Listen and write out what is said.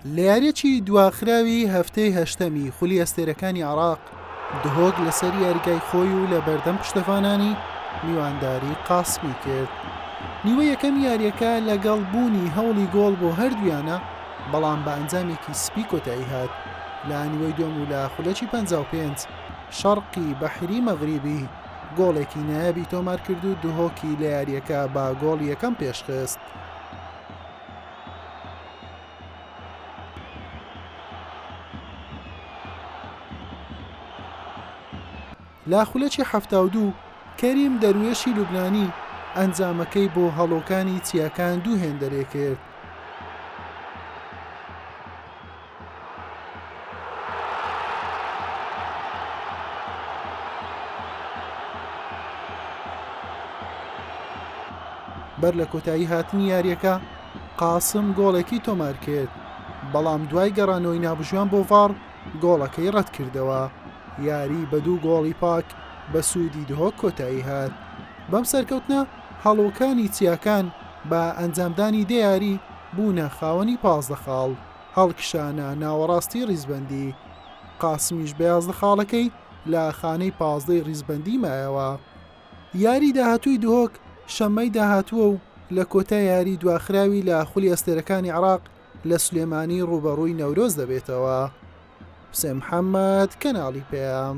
لە یاریی دواخراوی هەفتەی هەشتەمی خولی ئەستێرەکانی عێراق، دهۆک لەسەر یاریگای خۆی و لە بەردەم پشتەڤانانی میوانداری قاسمی کرد. نیوە یەکەمی یاریەکە لەگەڵ بوونی هەوڵی گۆڵ بۆ هەردوویانە، بەڵام بە ئەنجامێکی سپی کۆتایی هات. لە نیوەی دووەم و لە خولەکی پەنجا و پێنج، شەرقی بەحری مەغریبی گۆڵێکی نایابی تۆمارکرد و دهۆکی لە یارییەکە بە گۆڵی یەکەم پێشخست. لە خولەکی حەفتا و دوو، کەریم دەروێشی لوبنانی ئەنجامەکەی بۆ هەڵۆکانی چیاکان دوو هێندەرێکرد. بەر لە کۆتایی هاتنی یاریەکە قاسم گۆڵێکی تۆمار کرد بەڵام دوای گەڕانەوەی نابژوان بۆ ڤاڕ گۆڵەکەی ڕەت کردەوە یاری بە دوو گۆڵی پاک بە سوودی دهۆک کۆتایی هات بەم سەرکەوتنە هەڵۆکانی چیاکان بە ئەنجامدانی دەیاری بوونە خاوەنی پازدە خاڵ. هەڵکشانە ناوەڕاستی ریزبەندی، قاسمیش بە یازدە خاڵەکەی لە خانەی پازدەی ریزبەندی مایەوە. یاریی داهاتووی دهۆک شەممەی داهاتووە و لە کۆتا یاریی دواخراوی لە خولی ئەستێرەکانی عێراق لە سلێمانی رووبەڕووی نەورۆز دەبێتەوە. حوسێن محەممەد، کەناڵی پەیام.